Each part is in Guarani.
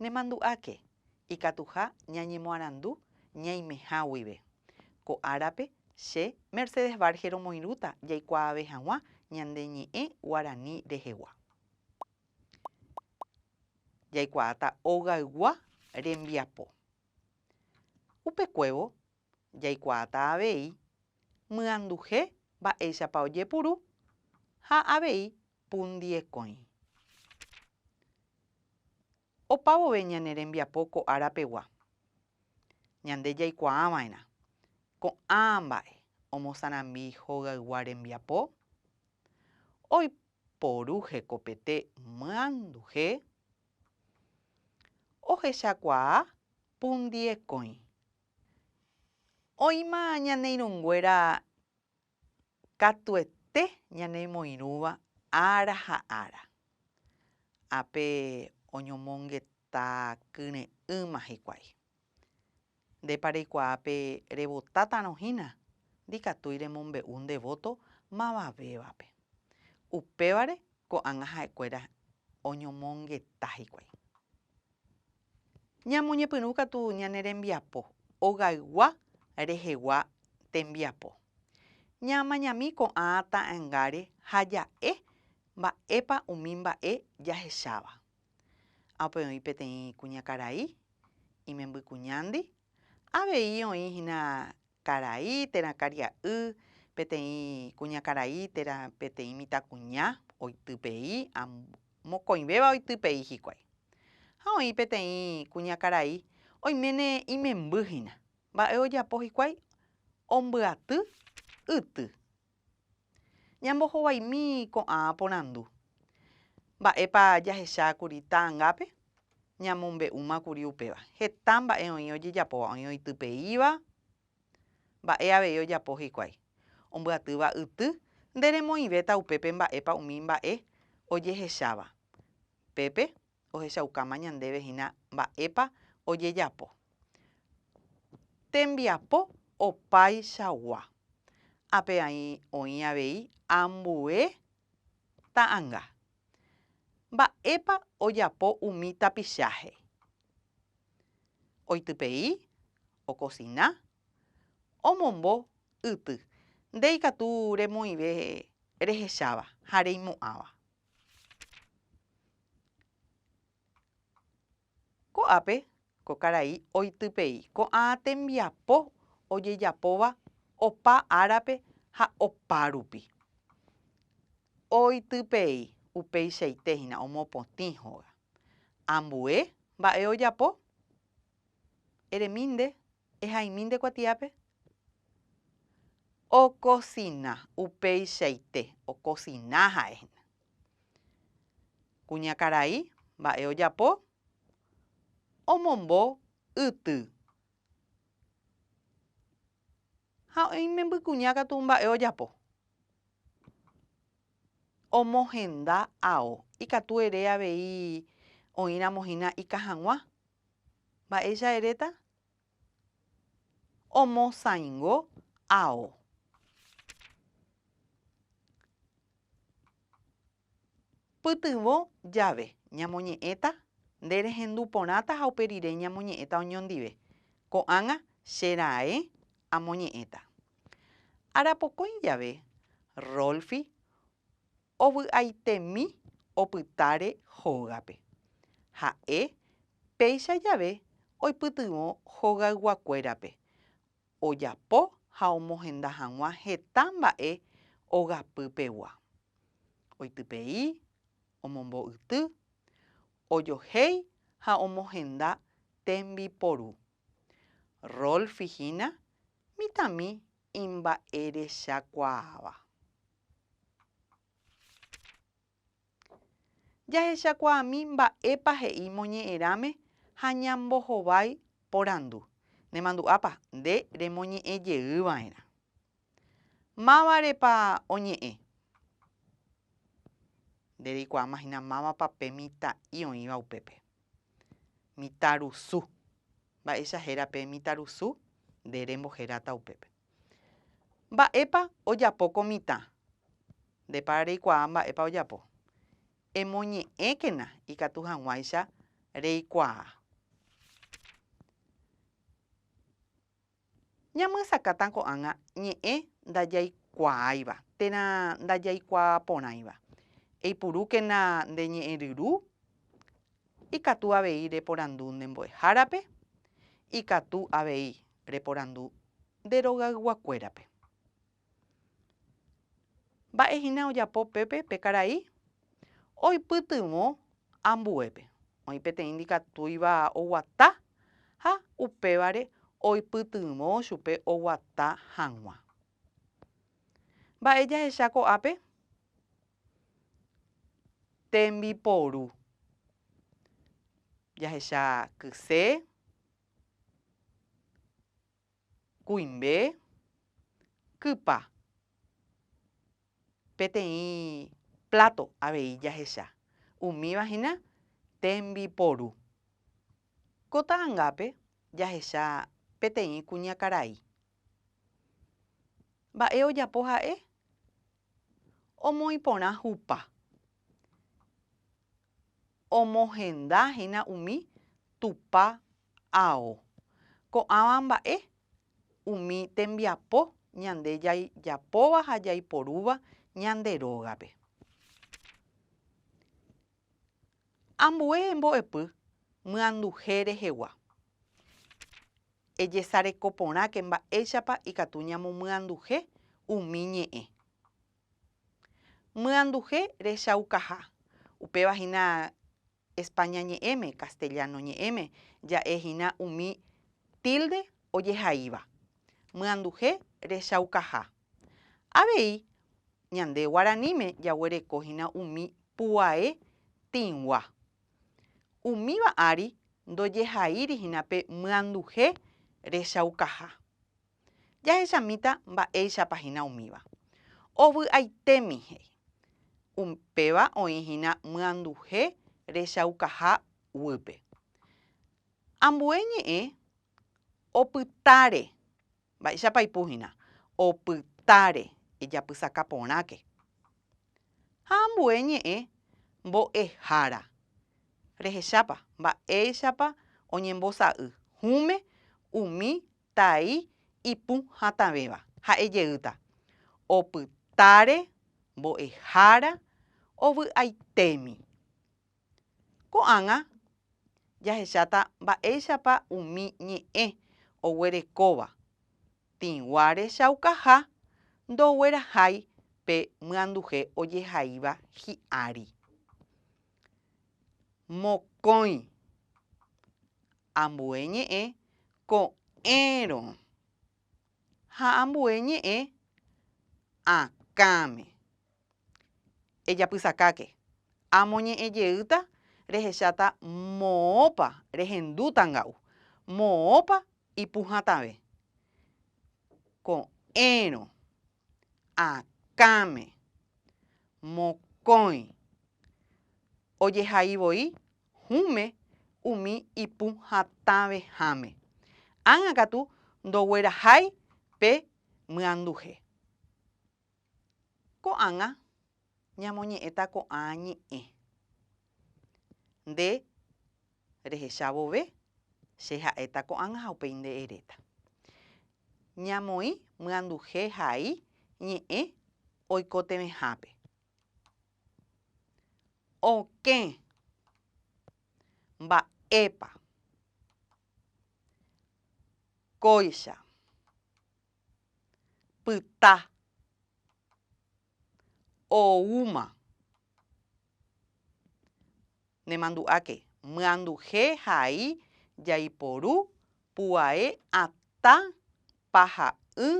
Nemandu'áke ikatuha ñañemoarandu ñaimeha guive. Ko árape, che, Mercedes Varge romoirũta jaikuaave hag̃ua ñande ñe'ẽ guarani rehegua. Jaikuaáta ogaygua rembiapo. Upekuévo jaikuaata avei myanduhe mba'éichapa ojepuru ha avei pundiekõi. Opa vove ñane rembiapo ko ára pegua, ñande jaikuaa va'erã ko'ã mba'e omosarambi hogaygua rembiapo, oiporu hekopete myanduhe, ohechakuaa pundiekõi Oĩma ñane irũnguéra katuete ñanemoirũva ára ha ára. Ápe oñomongeta kyre'ỹma hikuái. Ndépa reikuaa pe revotátarõ hína, ndikatúi remombe'u nde vóto mavavévape. Upévare ko'ág̃a ha'ekuéra oñomongeta hikuái. Ñamoñepyrũ katu ñane rembiapo ogaygua rehegua tembiapo. Ñaamañami ko'ã ta'ãngáre ha ja'e mba'épa umi mba'e jahecháva. Ápe oĩ peteĩ kuñakarai, imembykuñándi, avei oĩ hína karai térã karia'y, peteĩ kuñakarai térã peteĩ mitãkuña oitypei, mokõivéva oitypei hikuái. Ha oĩ peteĩ kuñakarai oiméne imemby hína. Mba'e ojapo hikuái? Ombyaty yty. Ñambohovaimi ko'ã porandu. Mba'épa jahechákuri ta'angápe? Ñamombe'úmakuri upéva. Heta mba'e oĩ ojejapóva, oĩ oitypeíva. Mba'e avei ojapo hikuái. Ombyatýva yty, nderemoĩvéta upépe mba'épa umi mba'e ojehecháva. Pépe, ohechaukáma ñandéve hína mba'épa ojejapo. Tembiapo opaichagua. Ápe oĩ avei ambue ta'anga. Mba'épa ojapo umi tapicháhe? Oitypei, okosina, omombo yty. Nde ikatu remoĩve rehecháva ha reimo'ãva. Ko'ápe ko karai oitypei ko'ã tembiapo ojejapóva opa árape ha opárupi. Oitypei upeichaite hína omopotĩ hóga. Ambue mba'e ojapo? Eremínde Ehaimi nde kuatiápe. Okosina. Upeichaite okosina ha'e hína. Kuñakarai mba'e ojapo? Omombo yty. Ha oĩ imembykuña katu mba'e ojapo. omohenda ao, ikatu ere avei oĩramo hína ika hag̃ua. Mba'éicha eréta? Omosãingo ao. Pytyvõ jave, ñamoñe'ẽta, Nde rehendu porãta ha upe rire ñamoñe'ẽta oñondive. Ko'ág̃a, che raẽ amoñe'ẽta. Arapokõi jave, Rolfi ovy'aitemi opytáre hógape. Ha'e péicha jave oipytyvõ hogayguakuérape, ojapo ha omohenda hag̃ua heta mba'e ogapy pegua. Oitypei, omombo'yty, ojohéi ha omohenda tembiporu. Rolf hína mitãmi imba'erechakuaáva. Jahechakuaami mba'épa he'i moñe'ẽrãme ha ñambohovái porandu. Nemandu'ápa nde remoñe'ẽ jey va'erã. Mávarepa oñe'ẽ? Nde reikuaáma hína mávapa pe mitã'i oĩva upépe. Mitã rusu. Mba'éicha héra pe mitã rusu? Nde remboheráta upépe. Mba'épa ojapo ko mitã? Ndépa reikuaa mba'épa ojapo. Emoñe'ẽkena ikatu hag̃uáicha reikuaa. Ñamyesakãta ko'ág̃a ñe'ẽ ndajaikuaáiva térã ndajaikuaaporãiva. Eipurúkena nde ñe'ẽryru, ikatu avei reporandu nde mbo'ehárape, ikatu avei reporandu nde rogayguakuérape. Mba'e hína ojapo pépe pe karai? Oipytyvõ ambuépe. Oĩ peteĩ ndikatúiva oguata ha upévare oipytyvõ chupe oguata hag̃ua. Mba'e jahecha ko'ápe? Tembiporu. Jahecha kyse, Kuimbe, kypa, peteĩ pláto avei jahecha. Umíva hína tembiporu. Ko ta'angápe jahecha peteĩ kuñakarai. Mba'e ojapo ha'e? Omoĩ porã hupa. omohenda hína umi Tupã ao. Ko'ãva mba'e umi tembiapo ñande jajapóva ha jaiporúva ñande rógape. Ambue embo'epy myanduhe rehegua. Ejesareko porãke mba'éichapa ikatu ñamomyanduhe umi ñe'ẽ. Myanduhe rechaukaha. Upéva hína España ñe'ẽme, Castellano ñe'ẽme ja'e hína umi tilde ojehaíva. Myanduhe rechaukaha. Avei ñande guaraníme jaguereko hína umi puae tĩgua. Umíva ári ndojehaíri hína pe myanduhe rechaukaha. Jahechamíta mba'éichapa hína umíva. Ovy'aitémi he'i. Upéva oĩ hína myanduhe rechaukaha guýpe. Ambue ñe'ẽ opytáre. Mba'éichapa aipu hína? Opytáre, ejapysaka porãke. Ha ambue ñe'ẽ mbo'ehára. Rehechápa mba'éichapa oñembosa'y hũme umi tai ipũ hatãvéva, ha'e jeýta, opytáre, mbo'ehára, ovy'aitémi. Ko'ág̃a jahecháta mba'éichapa umi ñe'ẽ oguerekóva, tĩgua rechaukaha ndoguerahái pe myanduhe ojehaíva hi'ári. Mokõi ambue ñe'ẽ Ko'ẽrõ. Ha ambue ñe'ẽ akãme. Ejapysakáke. Amoñe'ẽ jeýta rehecháta moõpa rehendu tanga'u, moõpa ipu hatãve. Ko'ẽrõ. akãme, mokõi, ojehai voi hũme umi ipu hatãveháme, ág̃a katu ndoguerahái pe myanduhe. Ko'ág̃a. ñamoñe'ẽta ko'ã ñe'ẽ. Nde rehecha vove, che ha'éta ko'ág̃a ha upéi nde eréta. Ñamoĩ myanduhe hai ñe'ẽ oikotevẽhápe. Okẽ. Mba'épa. Kóicha. Pyta. oúma. Nemandu'áke, myanduhe ha ai jaiporu puae atã paha'ỹ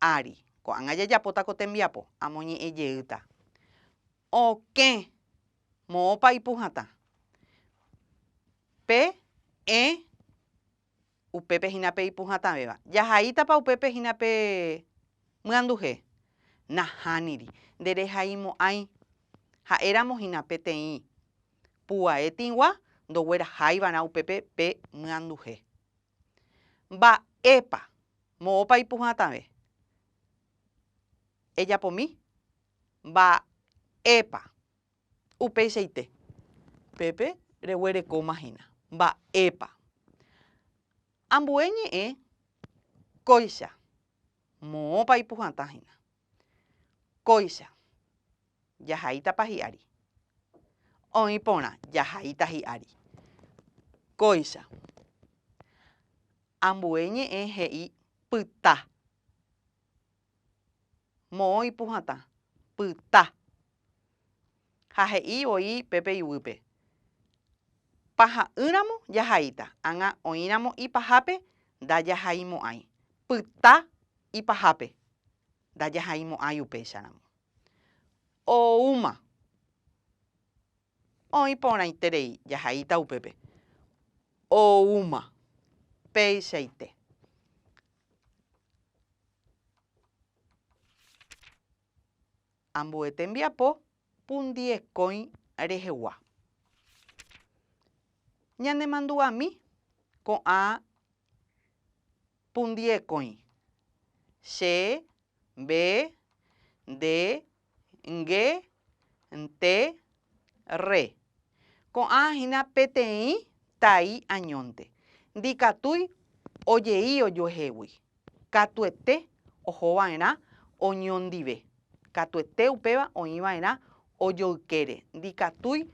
ári. Ko'ág̃a jajapóta ko tembiapo, amoñe'ẽ jeýta. Okẽ, moõpa ipu hatã. Pe, ẽ, upépe hína pe ipu hatãvéva. Jahaítapa upépe hína pe myanduhe? Nahániri. Nde rehaimo'ãi. Ha'éramo hína peteĩ puvae tĩgua ndogueraháivarã upépe pe myanduhe. Mba'épa, moõpa ipu hatãve? Ejapomi? Mba'épa? Upeichaite, pépe reguerekóma hína. Mba'épa? Ambue ñe'ẽ kóicha, moõpa ipuhatã hína. Kóicha, jahaítapa hi'ári. Oĩ porã, jahaíta hi'ári. Kóicha, ambue ñe'ẽ he'i pyta. moõ ipuhatã, pyta. Ha he'i voi pe pe yvýpe, Paha'ỹramo jahaíta, ág̃a oĩramo ipahápe ndajahaimo'ãi, pyta ipahápe ndajahaimo'ãi upéicharamo. Oúma. Oĩ porãiterei jahaíta upépe oúma peichaite. Ambue tembiapo pundiekõi rehegua. Ñanemandu'ami ko'ã Pundiekõi. Che, mbe, nde, nge, nte, rre. Ko'ã hína peteĩ tai añónte, ndikatúi ojei ojuehegui, katuete oho va'erã oñondive, katuete upéva oĩ va'erã ojoykére, ndikatúi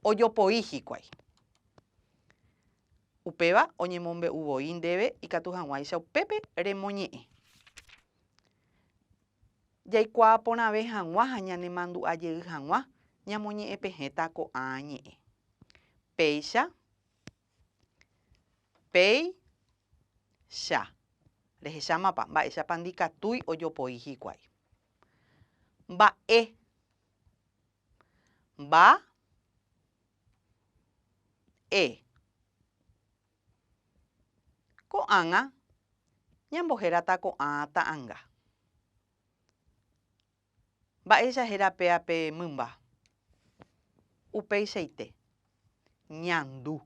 ojopoi hikuái. Upéva oñemombe'u voi ndéve ikatu hag̃uáicha upépe remoñe'ẽ. Jaikuaa porãve hag̃ua ha ñanemandu'a jey hag̃ua ñamoñe'ẽpehẽta ko'ã ñe'ẽ. Péicha, péi, cha. Rehechámapa mba'éichapa ndikatúi ojopoi hikuái. Mba'e. Mba e. Ko'ágã ñambohérata ko'ã ta'anga. Mba'éicha héra péa pe mymba? Upeichaite, ñandu.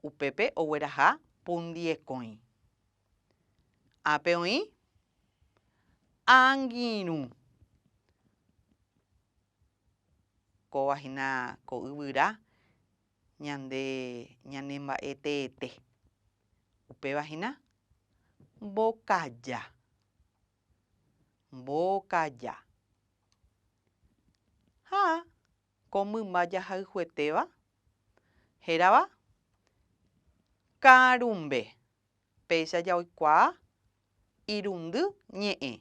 Upépe ogueraha pundiekõi. Ápe oĩ angirũ. Kóva hína ko yvyra ñande ñanemba'eteete. Upéva hína mbokaja. Mbokaja. Ha ko mymba jahayhuetéva hérava karumbe. Péicha jaoikuaa irundy ñe'ẽ,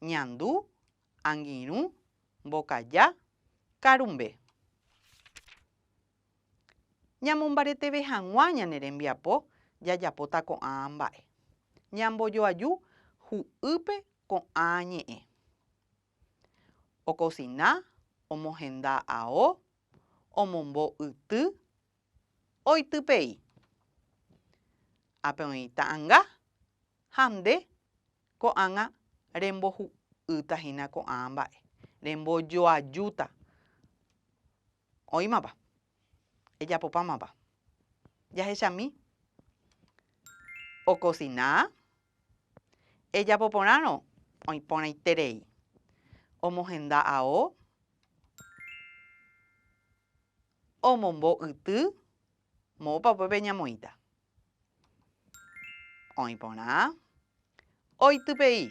ñandu, angirũ, mbokaja, karumbe. Ñamombareteve hag̃ua ñane rembiapo jajapóta ko'ã mba'e. Ñambojoaju hu'ýpe ko'ã ñe'ẽ. Okosina, omohenda ao, omombo yty, oitypei. Ápe oĩ ta'anga ha nde ko'ág̃a rembohu'ýta hína ko'ã mba'e, rembojoajúta. Oĩmapa? Ejapopámapa? Jahechami okosina, ejapo porãrõ oĩ porãiterei, omohenda ao, Omombo yty, moõpa upépe ñamoĩta? Oĩ porã. Oitypei.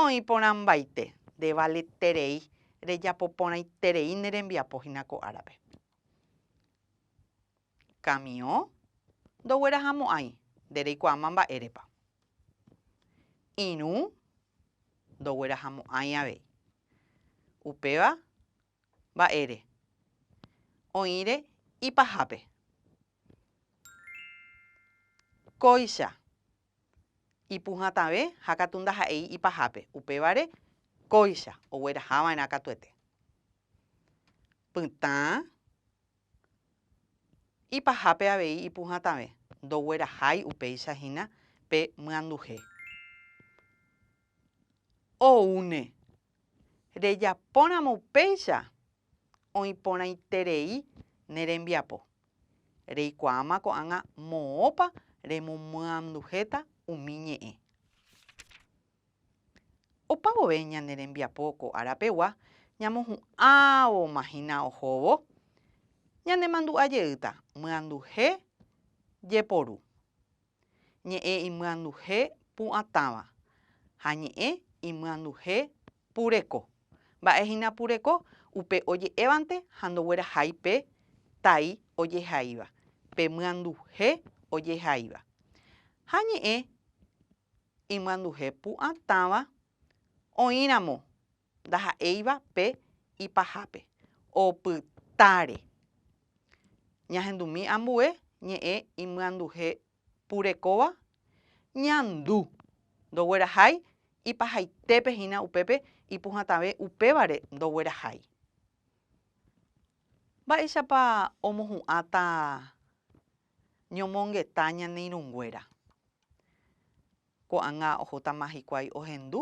Oĩ porãmbaite, ndevaleterei, rejapo porãiterei ne rembiapo hína ko árape. Kamiõ ndoguerahamo'ãi, nde reikuaáma mba'érepa. Irũ ndoguerahamo'ãi avei. Upéva mba'ére oĩre ipahápe. Kóicha ipuhãtãve ha katu ndaha'éi ipahápe, upévare kóicha oguerahava'erã katuete. Pytã ipahápe avei ipuhãtãve, ndoguerahái upéicha hína pe myanduhe. Oúne rejapóramo upéicha, oĩ porãiterei ne rembiapo. Reikuaáma ko'ág̃a moõpa remomyanduhéta umi ñe'ẽ. Opa vove ñane rembiapo ko árapegua ñamohu'ãvoma hína ohóvo, ñanemandu'a jeýta myanduhe jeporu. ñe'ẽ imyanduhe pu'atãva ha ñe'ẽ imyanduhe pureko. Mba'e hína pureko? Upe oje'évante ha ndoguerahai pe tai ojehaíva, pe myanduhe ojehaíva. Ha ñe'ẽ imyanduhe pu'atãva oĩramo ndaha'éiva pe ipahápe, opytáre. Ñahendumi ambue ñe'ẽ imyanduhe purekóva ñandu, ndoguerahái ipahaitépe hína upépe ipuhãtave upévare ndoguerahái. Mba'éichapa omohu'ãta ñomongeta ñane irũnguéra? Ko'ág̃a ohótama hikuái ohendu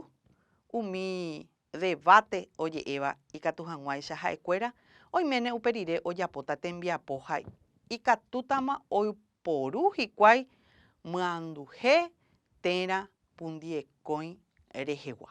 umi debáte oje'éva ikatu hag̃uáicha ha'ekuéra, oiméne upe rire ojapóta tembiapo ha ikatútama oiporu hikuái myanduhe térã pundiekõi rehegua.